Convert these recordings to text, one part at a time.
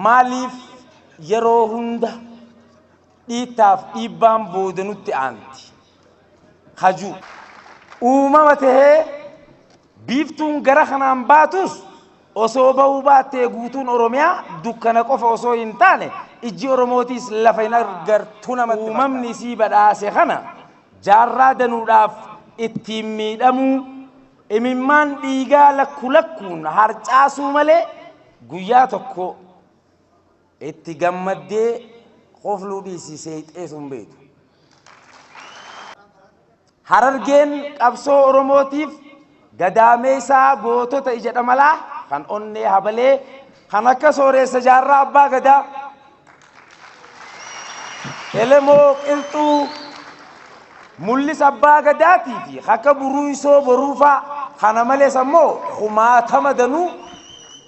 Maaliif yeroo hunda dhiittaaf dhiibbaan booda nutti aanti? Haju. Uumama tahee biiftuun gara kanaan baatus osoo ba'uu baattee guutuun Oromiyaa dukkana qofa osoo hin taane ijji Oromootiis lafa hin argartu namatti fakkaata. Uumamni isii badhaase kana jaarraa danuudhaaf ittiin miidhamuu, Imimmaan dhiigaa lakku lakkuun harcaasuu malee guyyaa tokko itti gammaddee kofluu dhiisii seeyxeetu hin beektu. Harargeen qabsoo Oromootiif gadaameessaa gootota ija dhamalaa kan onnee habalee kan akka sooreessa jaarraa abbaa gadaa, Elemoo Qilxuu, Mul'is Abbaa Gadaatii fi akka Buruuysoo Boruufaa kana malees ammoo kumaatama danuu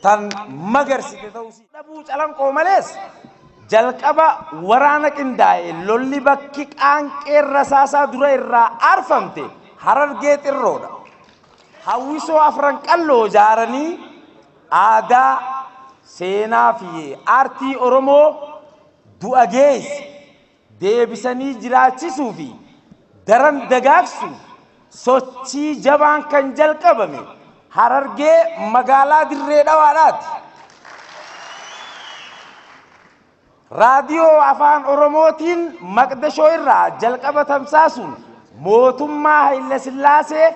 tan magarsite ta'uu isii. Dhabuu Calanqoo malees jalqaba waraana qindaa'e lolli bakki qaanqeen rasaasaa dura irraa aarfamte Harargee Xirroodha. Hawwisoo Afran Qalloo ijaaranii Aadaa, seenaa fi aartii Oromoo du'a geesse deebisanii jiraachisuu fi daran dagaagsuuf sochii jabaan kan jalqabame Harargee magaalaa Dirree Dhawaadhaati. Raadiyoo Afaan Oromootiin Maqdashoo irraa jalqaba tamsaasuun mootummaa Hayilasillaasee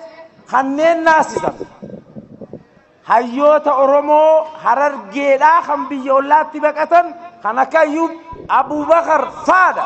kanneen naasisan hayyoota Oromoo Harargeedhaa kan biyya ollaatti baqatan kan akka Ayyuub Abuubakar faadha.